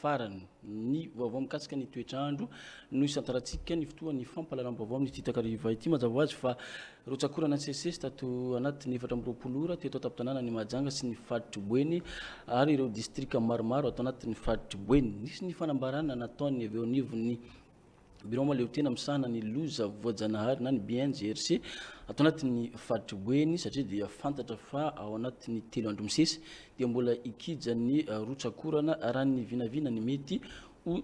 Farany, ny vaovao mikasika ny toetr'andro no isantarantsika ny fotoan'ny fampahalalam-baovao amin'ity takariva ity. Mazava ho azy fa rotsak'orana nisesisesy tato anatin'ny efatra amby roapolo ora teto an-tampon-tanànan'i Mahajanga sy ny faritr'i Boeny ary ireo distrika maromaro ato anatin'ny faritr'i Boeny. Nisy ny fanambarana nataon'ny avy eo anivon'ny Birao mahaleotena misahana ny loza voajanahary na ny BNGRC ato anatin'ny faritry Boeny satria dia fantatra fa ao anatin'ny telo andro misesy dia mbola ikija ny rotsakorana raha ny vinavina ny mety ho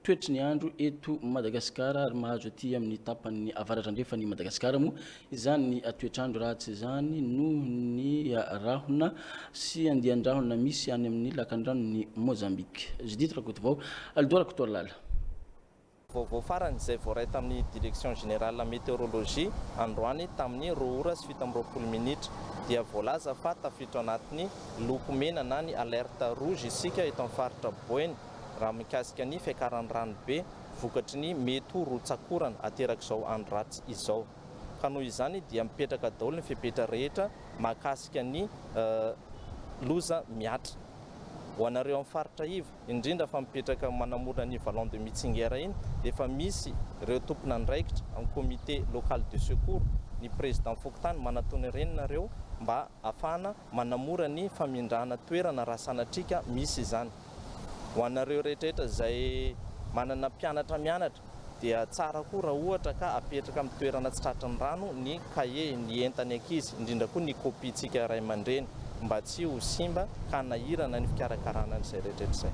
toetry ny andro eto Madagasikara ary mahazo aty amin'ny tapan'ny avaratrandrefan'i Madagasikara moa Izany ny toetr'andro ratsy izany noho ny rahona sy andian-drahona misy any amin'ny lakandranon'i Mozambika. Judith Rakotovao, Aldo Rakotoalala. Vaovao farany izay voaray tamin'ny Direction Générale Météorologie androany tamin'ny roa ora sy fito amby roapolo minitra dia voalaza fa tafiditra ao anatin'ny loko mena na ny alerte rouge isika eto amin'ny faritra Boeny raha mikasika ny fiakaran'ny ranobe vokatry ny mety ho rotsakorana aterak'izao andro ratsy izao. Ka noho izany dia mipetraka daholo ny fepetra rehetra mahakasika ny loza mihatra. Ho anareo amin'ny faritra iva, indrindra fa mipetraka manamorona ny Vallon de Mitsinger iny, dia efa misy ireo tompon'andraikitra amin'ny comité local de secours, ny président fokontany manatona ireny nareo mba Afahana manamora ny famindrana toerana raha sanatria ka misy izany. Ho anareo rehetrarehetra izay manana mpianatra mianatra dia tsara koa raha ohatra ka apetraka amin'ny toerana tsy tratry ny rano ny kahie, ny entan'ny ankizy, indrindra koa ny kopiantsika ray aman-dreny mba tsy ho simba ka hanahirana ny fikarakarana an'izay rehetrarehetra izay.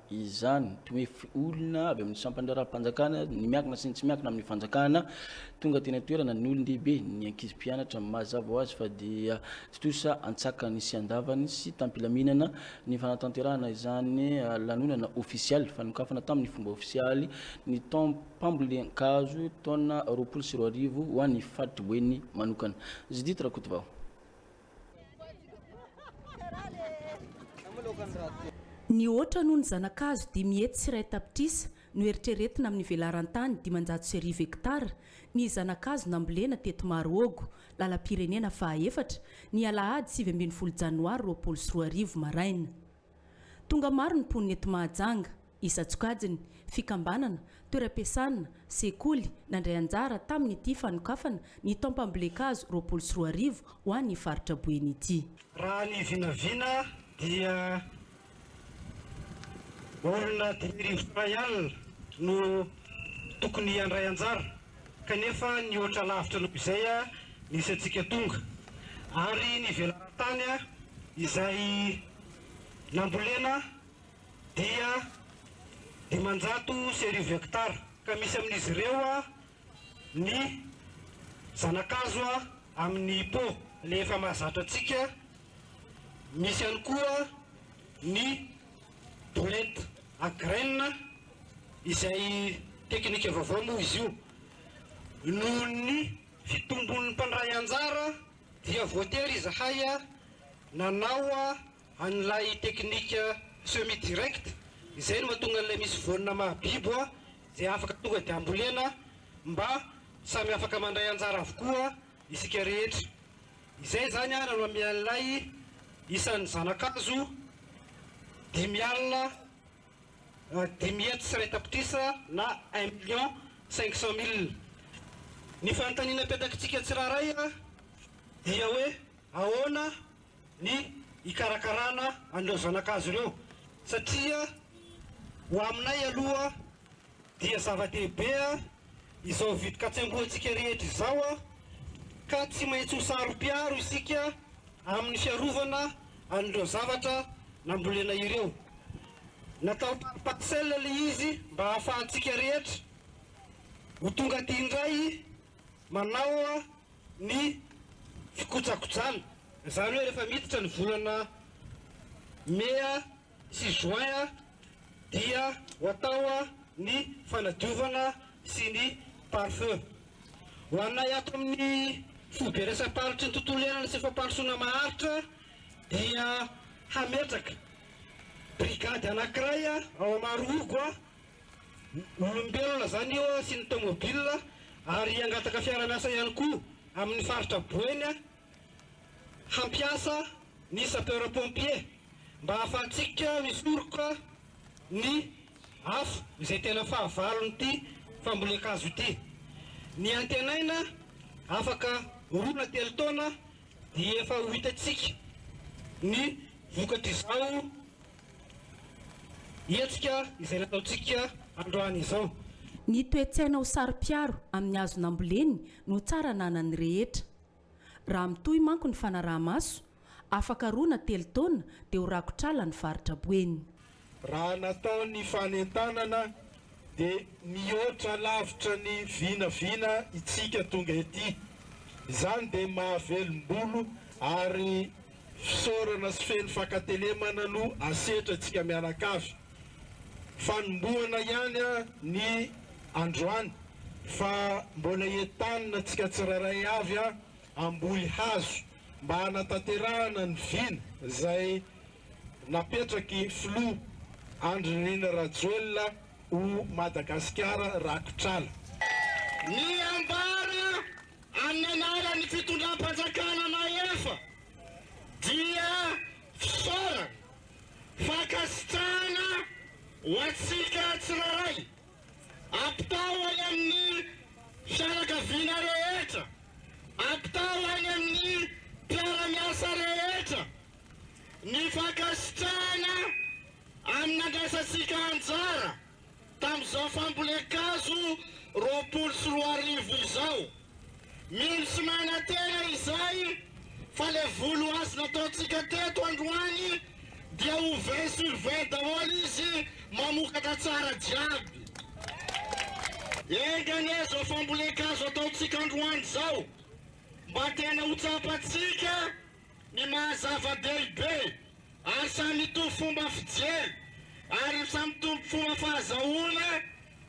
izany, toy ny hoe olona avy amin'ny sampana raharaham-panjakana, ny miankina sy ny tsy miankina amin'ny fanjakana, tonga teny an-toerana, ny olon-dehibe, ny ankizy mpianatra. Mazava ho azy fa dia tontosa an-tsakany sy an-davany sy tam-pilaminana ny fanatanterahana izany lanonana ofisialy fanokafana tamin'ny fomba ofisialy ny taom-pambolen-kazo taona roapolo sy roa arivo ho an'ny faritry Boeny manokana. Judith Rakotovao. Nihoatra noho ny zana-kazo dimy hetsy sy iray tapitrisa no eritreretina amin'ny velaran-tany dimanjato sy arivo hektara ny zana-kazo nambolena teto Marohogo, lalam-pirenena faha efatra, ny alahady sivy ambin'ny folo janoary roapolo sy roa arivo maraina. Tonga maro ny mponina eto Mahajanga, isan-tsokajiny, fikambanana, toeram-piasana, sekoly, nandray anjara tamin'ity fanokafana ny taom-pambolen-kazo roapolo sy roa arivo ho an'ny faritra Boeny ity. Raha ny vinavina dia olona dimy arivo sy iray alina no tokony handray anjara kanefa nihoatra lavitra noho izay nisy antsika tonga ary ny velaran-tany izay nambolena dia dimanjato sy arivo hektara ka misy amin'izy ireo ny zanakazo amin'ny po le efa mahazatra antsika misy ihany koa ny bolet agraina izay teknika vaovao moa izy io noho ny fitombon'ny mpandray anjara dia voatery izahay nanao an'ilay teknika semi direct izay no mahatonga an'ilay misy voanina mahabibo dia afaka tonga dia ambolena mba samy afaka mandray anjara avokoa isika rehetra. Izay izany no nanome an'ilay isan'ny zanakazo dimy alina dimy hetsy sy iray tapitrisa na un million cinq cent mille. Ny fanontaniana apetakitsika tsirairay dia hoe ahoana ny hikarakarana an'ireo zanakazo ireo satria ho aminay aloha Dia zava-dehibe izao vidin-katsembohantsika rehetra izao ka tsy maintsy ho saro-piaro isika amin'ny fiarovana an'ireo zavatra nambolena ireo. Natao par parcelle ilay izy mba hahafahantsika rehetra ho tonga aty indray manao ny fikojakojana. Izany hoe rehefa miditra ny volana mea. sy juin dia ho atao ny fanadiovana sy ny pare feu. Ho anay ato amin'ny foibe resa-paritry ny tontolo iainana sy fampandrosoana maharitra dia hametraka brigade anankiray ao Amarohogo olombelona zany io sy ny tomobile ary hangataka fiara-miasa ihany koa amin'ny faritra Boeny hampiasa ny sapeur pompier mba hahafahantsika misoroka ny afo izay tena fahavalon'ity fambolen-kazo ity. Ny antenaina afaka roa na telo taona dia efa ho hitantsika ny vokatr'izao hetsika izay nataontsika androany izao. Ny toe-tsaina ho saro-piaro amin'ny hazo namboleny no tsara ananan'ny rehetra. Raha mitohy manko ny fanaraha-maso, afaka roa na telo taona dia ho rakotr'ala ny faritra Boeny. Raha natao ny fanentanana dia mihoatra lavitra ny vinavina itsika tonga ety. Izany dia mahavelom-bolo ary fisaorana sy feno fankatelemana no asetra itsika mianakavy. Fanombohana ihany ny androany fa mbola entanina tsika tsirairay avy hamboly hazo mba hanatanterahana ny vina izay napetraky filoha Andry Nirina Rajoelina ho Madagasikara rakotr'ala. Ny ambara amin'ny anaran'ny fitondram-panjakana mahefa dia fisaorana fankasitrahana ho antsika tsirairay. Ampitao any amin'ny fianakaviana rehetra, ampitao any amin'ny mpiara-miasa rehetra ny fankasitrahana amin'ny nandraisantsika anjara. Tamin'izao fambolen-kazo roapolo sy roa arivo izao, mino sy manantena izahay fa ilay voly azo nataontsika teto androany dia ho vingt sur vingt daholo izy, mamokatra tsara jiaby. Enga anie izao fambolen-kazo ataontsika androany izao mba tena ho tsapantsika ny maha zava-dehibe ary samy mitovy fomba fijery ary samy mitovy fomba fahazahoana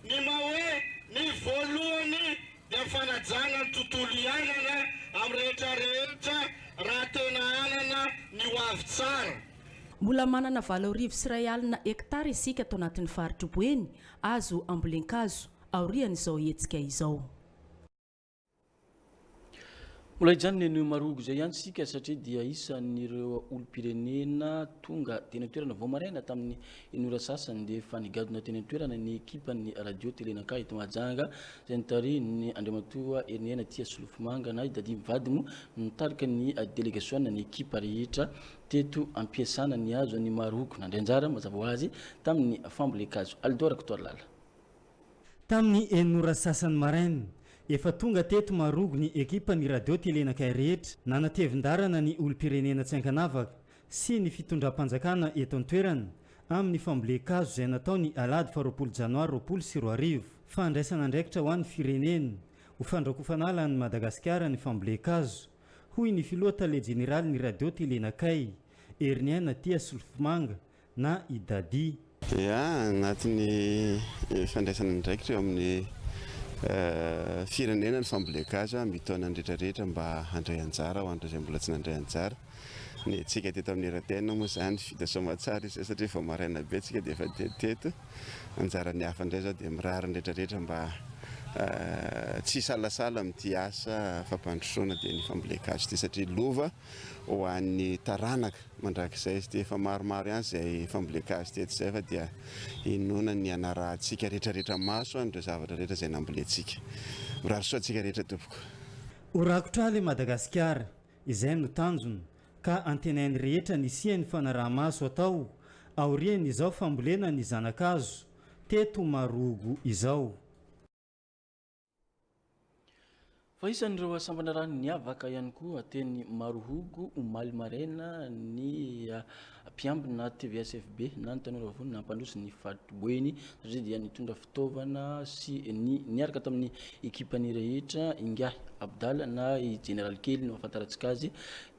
ny maha hoe ny voalohany dia ny fanajana ny tontolo iainana amin'ny rehetra rehetra raha tena hanana ny ho avy tsara. Mbola manana valo arivo sy iray alina hektara isika ato anatin'ny faritr'i Boeny azo ambolen-kazo, aorian'izao hetsika izao. Mbola hijanona eny Marogo izay ihany isika satria dia isan'ireo olom-pirenena tonga teny an-toerana vao maraina tamin'ny enora sasany dia efa nigadona teny an-toerana ny ekipan'ny radio Telenaka eto Mahajanga izay nitarihin'ny Andriamatoa Herinihena Tia Solofomanga na i Dadi Mivady no nitarika ny delegasiona ny ekipa rehetra teto am-piasana nihazo an'i Marogo nandray anjara mazava ho azy tamin'ny fambolen-kazo Alidor Rakotoarlala. Tamin'ny enina ora sy sasany maraina, efa tonga teto Marogo ny ekipan'ny Radio Telenakay rehetra nanatevin-darana ny olom-pirenena tsy ankanavaka sy ny fitondram-panjakana eto an-toerana amin'ny fambolen-kazo izay natao ny alahady faharoapolo janoary roapolo sy roa arivo. Fandraisana andraikitra ho an'ny firenena ho fandrakofana ala an'i Madagasikara ny fambolen-kazo, hoy ny filoha tale jeneralin'ny Radio Telenakay, Heriniaina Tia Solofomanga, na i Dadi. Dia agnatin'ny fandraisana andraikitra eo amin'ny firenena ny fambolia gasy amin'ny taona retraretra mba handray anjara ho an'ireo izay mbola tsy nandray anjara. Ny antsika teto amin'ny RTN moa izany vita soamatsara izay satria vao maraina be tsika dia efa dia teto. Anjaran'ny hafa indray izao dia mirary ny retraretra mba tsy hisalasala amin'ity asa fampandrosoana dia ny fambolia gasy ity satria lova ho an'ny taranaka. Mandrakizay izy dia efa maromaro ihany izay fambolekà azy teto izay fa dia inoana ny hanarahantsika retraretra maso any ireo zavatra rehetra izay nambolentsika. Mirary soa antsika rehetra tompoko. Ho rakotra hala i Madagasikara, izay no tanjona, ka antenain'ny rehetra ny hisian'ny fanaraha-maso atao aorian'izao fambolena ny zana-kazo teto Marohogo izao. Fa isan'ireo sambana rano niavaka ihany koa teny Marohogo omaly maraina ny ah, mpiambina TVSFB na ny tanora vony nampandroso ny fariboeny satria dia nitondra fitaovana sy ny niaraka tamin'ny ekipany rehetra ingahy Abdala na i Jeneraly kely no ahafantarantsika azy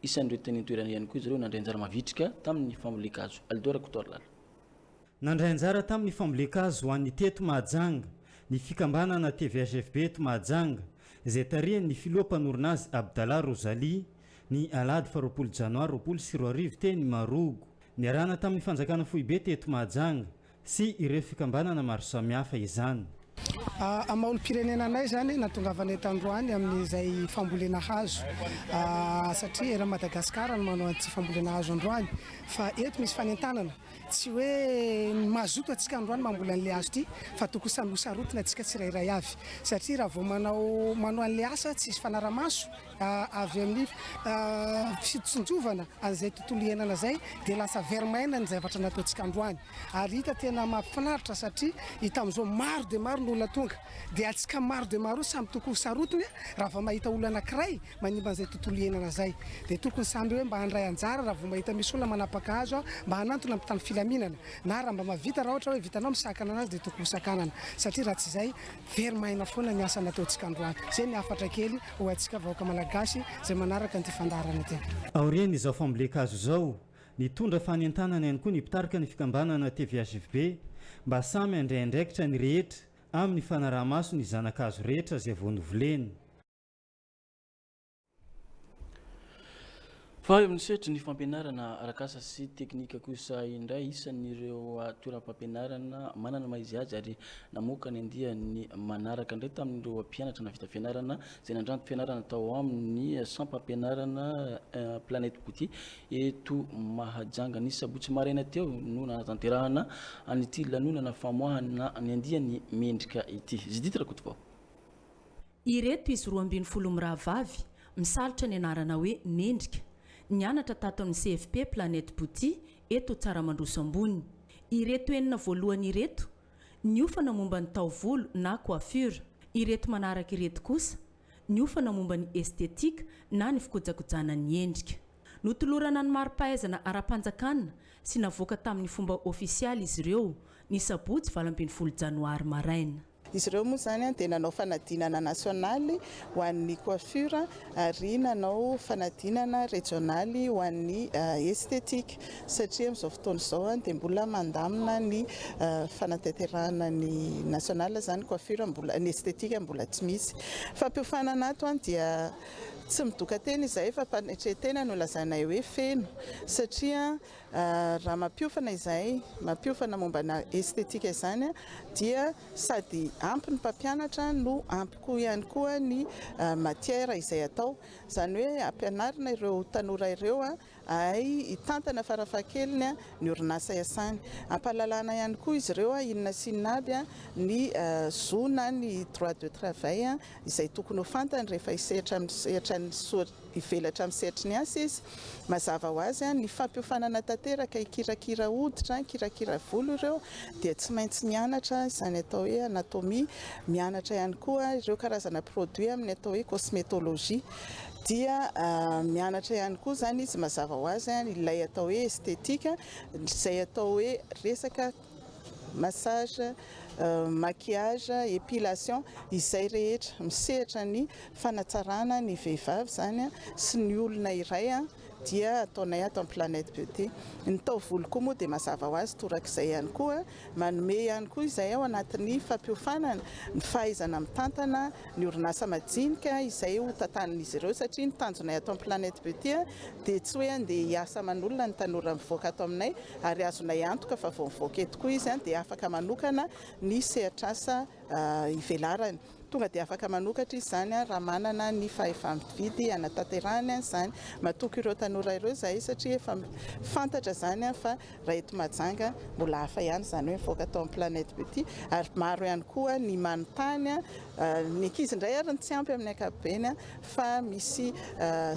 isan'ireo teny an-toerana ihany koa izy ireo nandray anjara mavitrika tamin'ny fambolen-kazo Alidora Kotoarlala. Nandray anjara tamin'ny fambolen-kazo ho an'ny teto Mahajanga ny fikambanana TVHFB eto Mahajanga, izay tarihan'ny filoha mpanorina azy Abdallah Rozali, ny alahady faha roapolo janoary roapolo sy roa arivo teny Marogo. Niarahana tamin'ny fanjakana foibe teto Mahajanga sy ireo fikambanana maro samihafa izany. Maha-olom-pirenena anay izany nahatongavana eto androany amin'izay fambolena hazo satria eran'i Madagasikara no manao an'ity fambolena hazo androany fa eto misy fanentanana. Tsy hoe ny mazoto antsika androany mamboly an'ilay hazo ity fa tokony samy ho sarotiny antsika tsirairay avy satria raha vao manao manao an'ilay asa tsisy fanaramaso avy amin'ny fitsinjovana an'izay tontolo iainana izay dia lasa very maina ny zavatra nataontsika androany ary hita tena mahafinaritra satria hita amin'izao maro dia maro ny olona tonga dia antsika maro dia maro samy tokony ho sarotiny raha vao mahita olona anankiray manimba an'izay tontolo iainana izay. Dia tokony samy hoe mba handray anjara raha vao mahita misy olona manapaka hazo mba hanantona mpitandro filaminana na raha mba mahavita raha ohatra hoe vitanao misakana anazy dia tokony ho sakanana satria raha tsy izay very maina foana ny asa nataontsika androany. Izay ny hafatra kely ho antsika vahoaka malagasy izay manaraka an'ity fandaharana ity. Aorian'izao fambolen-kazo izao, nitondra fanentanana ihany koa ny mpitarika ny fikambanana tvhjb mba samy handray andraikitra ny rehetra amin'ny fanaraha-maso ny zana-kazo rehetra izay vao novoleny. Fa eo amin'ny sehatry ny fampianarana arak'asa sy teknika kosa indray, isan' ireo toeram-pampianarana manana ny maha izy azy ary namoaka ny andiany manaraka indray tamin'ireo mpianatra nahavita fianarana izay nandranto fianarana tao amin'ny sampam-pianarana Planet Beauty Eto Mahajanga, ny sabotsy maraina teo no nanatanterahana an'ity lanonana famoahana ny andiany mendrika ity. Judith Rakotovao. Ireto izy roa ambin'ny folo mirahavavy, misalotra ny anarana hoe Mendrika. Nianatra tato amin'ny CFP Planète Bouti, eto Tsaramandroso Ambony. Ireto enina voalohany ireto, niofana momba ny taovolo na coiffure. Ireto manaraka ireto kosa, niofana momba ny estetika na ny fikojakojana ny endrika. Notolorana ny mari-pahaizana ara-panjakana sy navoaka tamin'ny fomba ofisialy izy ireo, ny sabotsy valo ambin'ny folo janoary maraina. Izy ireo moa izany dia nanao fanadinana nasionaly ho an'ny coiffure ary nanao fanadinana rejionaly ho an'ny estetika. satria amin'izao fotoana izao dia mbola mandamina ny fanatanterahana ny national izany coiffure mbola ny esthétique mbola tsy misy fampiofanana ato an dia tsy midoka tena izahay fa mpanetretena no lazainay hoe feno satria raha mampiofana izahay mampiofana mombana esthétique izany dia sady ampy ny mpampianatra no ampy koa ihany koa ny matière izay atao izany hoe ampianarina ireo tanora ireo Hay hitantana farafahakeliny ny orinasa iasany. Ampahalalana ihany koa izy ireo inona sy inona aby ny zo na ny droit de travail izay tokony ho fantany rehefa hisehatra amin'ny sehatran'ny hivelatra amin'ny sehatry ny asa izy. Mazava ho azy, ny fampiofanana tanteraka hikirakira hoditra, hikirakira volo ireo dia tsy maintsy mianatra izany atao hoe anatomie, mianatra ihany koa ireo karazana produits amin'ny atao hoe cosmetologie. dia mianatra ihany koa izany izy mazava ho azy ilay atao hoe esthétique izay atao hoe resaka massage maquillage épilation izay rehetra misehatra ny fanatsarana ny vehivavy izany sy ny olona iray dia ataonay ato amin'ny planète beauté ny taovolo koa moa dia mazava ho azy torak'izay ihany koa Manome ihany koa izay ao anatin'ny fampiofanana ny fahaizana mitantana ny orinasa majinika izay ho tantanin'izy ireo satria ny tanjonay ato amin'ny Planet Beauty dia tsy hoe handeha hiasa aman'olona ny tanora mivoaka ato aminay ary azonay antoka fa vao mivoaka eto koa izy dia afaka manokana ny sehatr'asa ivelarany. Tonga dia afaka manokatra izy izany raha manana ny fahefa-mividy hanatanterahany an'izany. Matoky ireo tanora ireo izahay satria efa fantatra izany fa raha eto Mahajanga mbola hafa ihany izany hoe mivoaka tao amin'ny Planète Beauty ary maro ihany koa ny manontany, ny ankizy indray ary no tsy ampy amin'ny ankapobeny, fa misy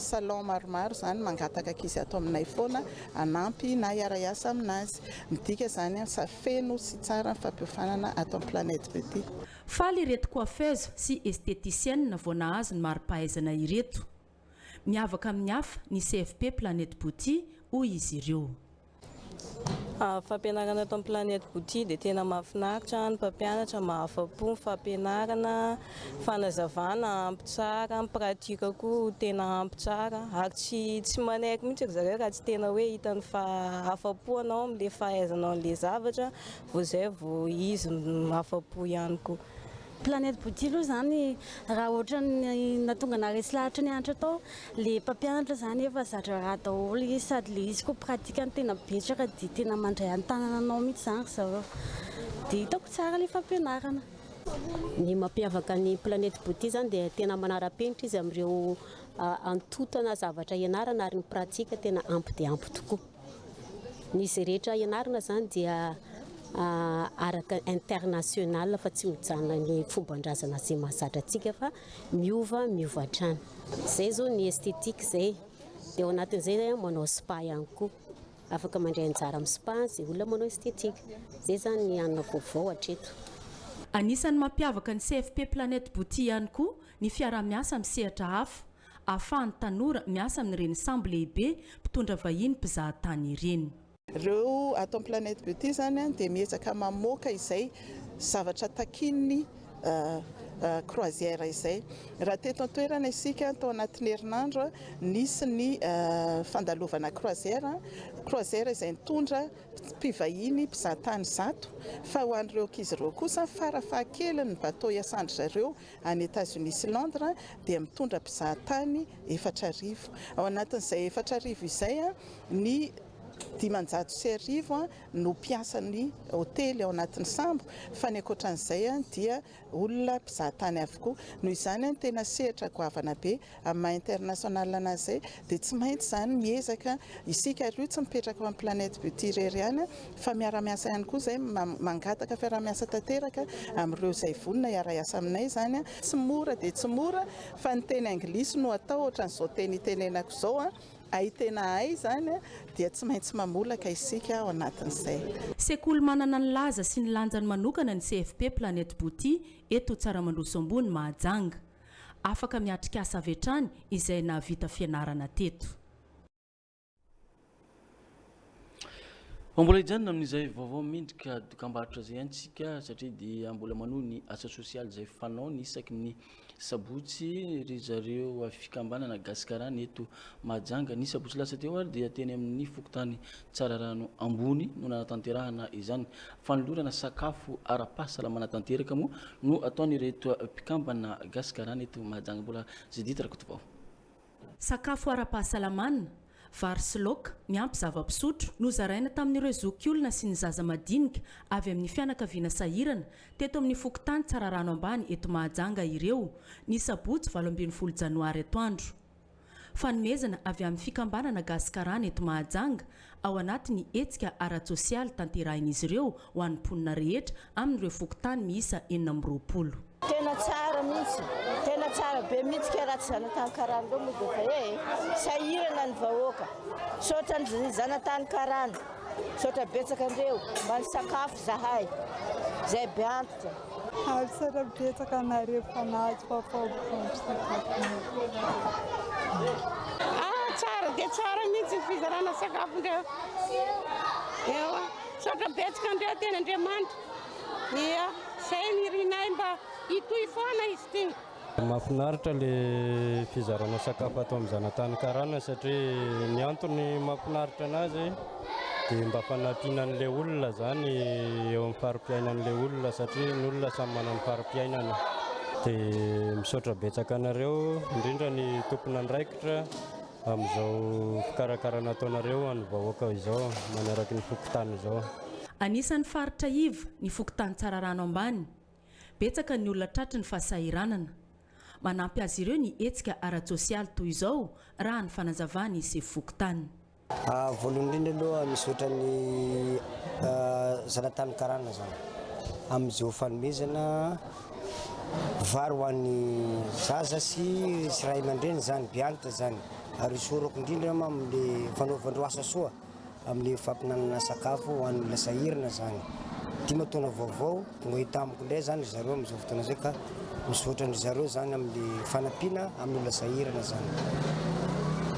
salon maromaro izany mangataka ankizy ato aminay foana hanampy na hiara-hiasa aminazy. Midika izany fa feno sy tsara ny fampiofanana ato amin'ny Planète Beauty. Faly ireto coiffeuse sy esthéticienne vao nahazo ny mari-pahaizana ireto. Miavaka amin'ny hafa ny CFP Planète Beauty, hoy izy ireo. Fampianarana eto amin'ny Planète Beauty dia tena mahafinaritra, ny mpampianatra mahafa-po ny fampianarana, fanazavana ampy tsara, ny pratique koa tena ampy tsara ary tsy tsy manaiky mihitsy ry zareo raha tsy tena hoe hitany fa afa-po ianao amin'ilay fahaizanao an'ilay zavatra Vao zay vao izy afa-po ihany koa. Planète Bouti aloha zany raha ohatran'ny nahatonga anah resy lahatra ny anatra tao le mpampianatra zany efa zatra raha daholo izy sady le izy koa pratique ny tena betsaka de tena mandray antanana anao mitsy zany ry zareo de hitako tsara le fampianarana. Ny mampiavaka ny Planète Bouti zany de tena manara-penitra izy amireo antontana zavatra ianarana ary ny pratique tena ampy dia ampy tokoa. Ny izay rehetra ianarana izany dia araka international fa tsy mijanona ny fombandrazana izay mahazatra antsika fa miova miova hatrany izay zao ny esthétique izay dia ao anatin'izay zay manao spa ihany koa afaka mandray anjara amin'ny spa izay olona manao esthétique izay zany ny hanina vaovao hatreto Anisan'ny mampiavaka ny CFP Planète Bouti ihany koa ny fiaraha-miasa amin'ny sehatra hafa. ahafahan'ny tanora miasa amin'ireny sambo lehibe mpitondra vahiny mpizaha tany ireny. Ireo ato amin'ny Planet Beauty izany dia miezaka mamoaka izay zavatra takian'ny croisière izay. Raha teto an-toerana isika tao anatin'ny herinandro nisy ny fandalovana croisière, croisière izay nitondra mpivahiny mpizaha tany zato fa ho an'ireo ankizy ireo kosa fara fahakeliny ny bateau hiasan-dry zareo any Etazonia sy Londres dia mitondra mpizaha tany efatra arivo. Ao anatin'izay efatra arivo izay, ny dimanjato sy arivo no mpiasan'ny hotely ao anatin'ny sambo fa ny ankoatran'izay dia olona mpizaha tany avokoa. Noho izany, tena sehatra goavana be. Amin'ny maha international an'azy izay dia tsy maintsy izany miezaka isika ary io tsy mipetraka ao amin'ny planète beauty irery ihany fa miara-miasa ihany koa izay mangataka fiaraha-miasa tanteraka amin'ireo izay vonona hiara-hiasa aminay izany. Tsy mora dia tsy mora fa ny teny anglisy no atao ohatran'izao teny itenenako izao hay tena hay izany dia tsy maintsy mamolaka isika ao anatin'izay. Sekoly manana ny laza sy ny lanjany manokana ny CFP Planète Beauty eto Tsaramandroso Ambony Mahajanga. Afaka miatrikasa avy hatrany izay nahavita fianarana teto. Fa mbola hijanona amin'izay vaovao mendrika dokambarotra izay antsika satria dia mbola manohy ny asa sosialy izay fanaony isaky ny sabotsy ry zareo fikambanana Gasikarana eto Mahajanga. Ny sabotsy lasa teo ary dia teny amin'ny fokontany Tsararano ambony no nanatanterahana izany. Fanolorana sakafo ara-pahasalamana tanteraka moa no ataon'ireto mpikambana Gasikarana eto Mahajanga. Mbola Judith Rakotovao. Sakafo ara-pahasalamana, vary sy laoka, miampy zava-pisotro, no zaraina tamin'ireo zokiolona sy ny zaza madinika avy amin'ny fianakaviana sahirana teto amin'ny fokontany Tsararano ambany eto Mahajanga ireo, ny sabotsy valo ambin'ny folo janoary atoandro. Fanomezana avy amin'ny Fikambanana Gasikarana eto Mahajanga ao anatin'ny hetsika ara-tsosialy tanterahin'izy ireo ho an'ny mponina rehetra amin'ireo fokontany miisa enina amby roapolo. Tena tsara mihitsy, tena tsara be mihitsy kay raha tsy zanatany karana ireo moa dia efa he e! Sahirana ny vahoaka. Misaotra ny zanatany karana. Misaotra betsaka an'ireo mba nisakafo. Zahay, zay be antitra. Arisera betsaka anareo fa nahazo faofaoba fampisakafoana. Ah tsara dia tsara mihitsy fizarana sakafo ndreo. Ewa, saotra betsaka ndreo teny Andriamanitra. Ia, zay ny irinay mba hitohy foana izy ity. Mahafinaritra ilay fizarana sakafo ato amin'ny zanatany karana satria ny antony mahafinaritra anazy dia mba fanampiana an'ilay olona izany eo amin'ny fari-piainan'ilay olona satria ny olona samy manana ny fari-piainany. Dia misaotra betsaka anareo indrindra ny tompon'andraikitra amin'izao fikarakarana ataonareo ho an'ny vahoaka izao manaraky ny fokontany izao. Anisan'ny faritra iva ny fokontany Tsararano Ambany. Betsaka ny olona tratry ny fahasahiranana. Manampy azy ireo ny hetsika ara-tsosialy toy izao, raha ny fanazavan'ny sefo fokontany. Voalohany indrindra aloha misaotra ny zanatany karana zany amin'izao fanomezana vary ho an'ny zaza sy sy ray aman-dreny zany, beanta zany ary isaorako indrindra amin'le fanaovandreo asa soa. amin'ny fampinanana sakafo ho an'olona sahirana zany dimy taona vaovao tonga hita amiko ndray zany ry zareo amin'izao fotoana izay ka misaotra an-dry zareo zany amin'ny fanampiana amin'olona sahirana zany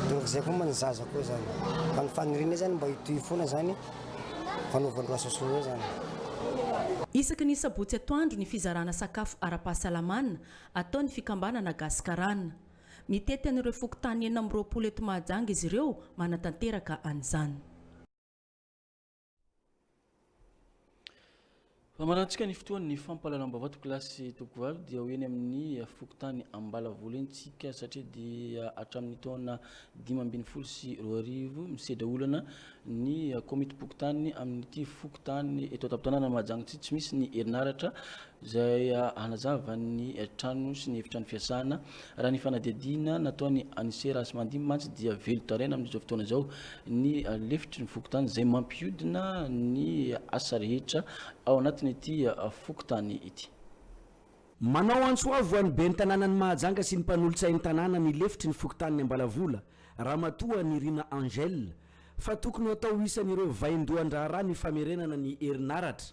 dia izay koa moa ny zaza koa zany fa ny fanirianay zany mba hitohy foana zany fanaovan-dro asa soa zany Isaky ny sabotsy atoandro ny fizarana sakafo ara-pahasalamana ataon'ny fikambanana Gasikarana. Mitety an'ireo fokontany enina amby roapolo eto Mahajanga izy ireo, manatanteraka an'izany. Famarantsika ny fotoan'ny fampahalalam-baovao to kilasy toko valo dia ho eny amin'ny fokontany Ambalavolo eny tsika satria dia hatramin'ny taona dimy ambin'ny folo sy roa arivo misedra olana ny Komitim-pokontany amin'ity fokontany eto an-tampon-tanàna Mahajanga ity tsy misy ny herinaratra izay hanazava ny trano sy ny efitrano fiasana. Raha ny fanadihadiana nataon'i Anise Rasimandimby mantsy dia velon-taraina amin'izao fotoana izao ny lefitry ny fokontany izay mampihodina ny asa rehetra ao anatin'ity fokontany ity. Manao antso avo ho an'ny ben'ny tanànan'i Mahajanga sy ny mpanolotsain'ny tanàna ny lefitry ny fokontanin'i Ambalavola, Ramatoa Nirina Angèle, fa tokony hatao ho isan'ireo vaindohan-draharaha ny famerenana ny herinaratra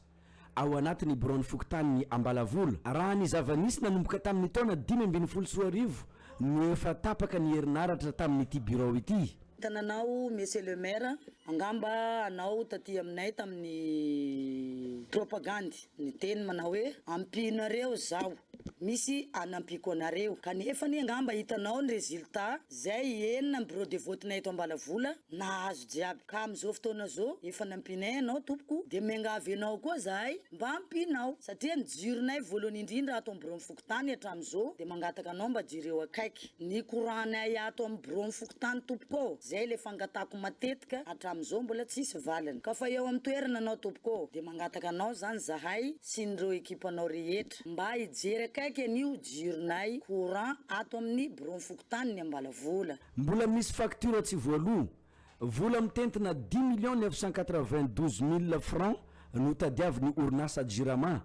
ao anatin'ny biraon'ny fokontanin'i Ambalavola, raha ny zava-nisy nanomboka tamin'ny taona dimy ambin'ny folo sy roa arivo no efa tapaka ny herinaratra tamin'ity birao ity. Tana anao Monsieur le Maire, angamba anao taty aminay tamin'ny propagandy niteny manao hoe ampianareo zaho misy anampiako anareo, kanefa anie angamba hitanao ny résultat zay enina ny bureau de vote-nay eto Ambalavola nahazo jiaby, ka amin'izao fotoana zao efa nampianay anao tompoko dia miangavy anao koa zahay Mba ampiana aho satria ny jironay voalohany indrindra ato amin'ny biraon'ny fokontany hatramin'izao dia mangataka anao mba jereo akaiky ny courant-nay ato amin'ny biraon'ny fokontany tompoko ô! Izay ilay fangatahako matetika hatramin'izao mbola tsisy valiny. Ka fa eo amin'ny toerana anao tompoko ô! Dia mangataka anao izany zahay sy ny ireo ekipanao rehetra mba hijery akaiky an'io jironay courant ato amin'ny biraon'ny fokontany ny Ambalavola. Mbola misy facture tsy voaloa Vola mitentina dimy millions neuf cent quatre-vingt-douze mille francs no tadiavin'ny orinasa Jirama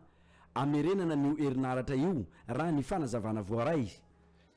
hamerenana an'io herinaratra io, raha ny fanazavana voaray.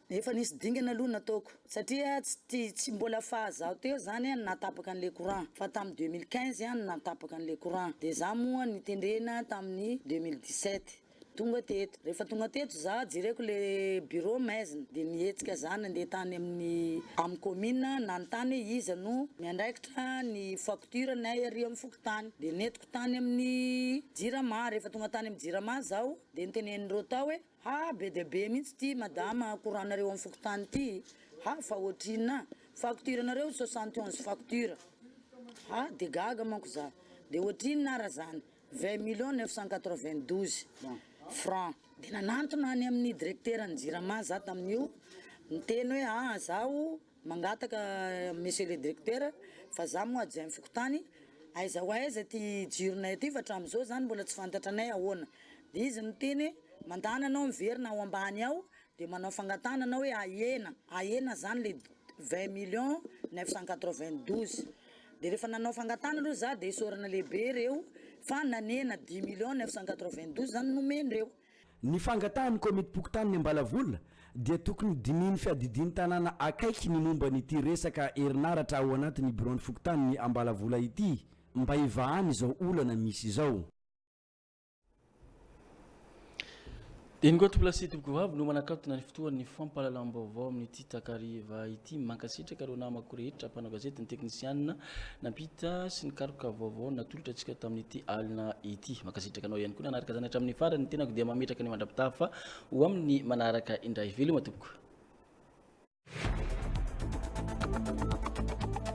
Efa nisy dingana aloha nataoko satria tsy mbola faha zaho teo zany no nahatapaka an'ilay courant fa tamin'ny deux mille quinze no nahatapaka an'ilay courant dia za moa nitendrena tamin'ny deux mille dix-sept. Tonga teto, rehefa tonga teto za jereko le bureau maizina de nihetsika za nandeha tany amin'ny amin'ny commune nanontany hoe iza no miandraikitra ny facture nay ary amin'ny fokontany de nentiko tany amin'ny jirama, rehefa tonga tany amin'ny jirama zaho de notenenin'ireo tao hoe ha be dia be mihitsy ity madama courant nareo amin'ny fokontany ity ha fa ohatrinona facture nareo soixante onze facture ha de gaga manko za de ohatrinona ary zany Vingt millions neuf cent quatre-vingt-douze francs dia nanantona any amin'ny directeran'ny jirama za tamin'io niteny hoe aa zaho mangataka monsieur le directeur fa za moa adjoint fokontany aiza ho aiza ity jironay ity fa hatramin'izao zany mbola tsy fantatra anay ahoana dia izy niteny hoe mandàna anao miverina ao ambany ao Dia manao fangatahana anao hoe ahena, ahena izany ilay vingt millions neuf cent quatre vingt douze. Dia rehefa nanao fangatahana aloha za dia isaorana lehibe ireo fa nanena dix millions neuf cent quatre vingt douze izany nomendreo. Ny fangatahan'ny Komitim-pokontanin'ny Ambalavola dia tokony dinihin'ny fiadidian'ny tanàna akaiky ny momba an'ity resaka herinaratra ao anatin'ny biraon'ny fokontanin'ny Ambalavola ity mba hivahana izao olana misy izao. Eny koa tompolahy sy tompoko vavy no manakatona ny fotoan'ny fampahalalam-baovao amin'ity takariva ity. Mankasitraka ireo namako rehetra mpanao gazety ny teknisianina nampita sy ny karoka vaovao natolotra antsika tamin'ity alina ity. Mankasitraka anao ihany koa nanaraka izany hatramin'ny farany. Ny tenako dia mametraka ny mandra-pitafa ho amin'ny manaraka indray. Veloma tompoko.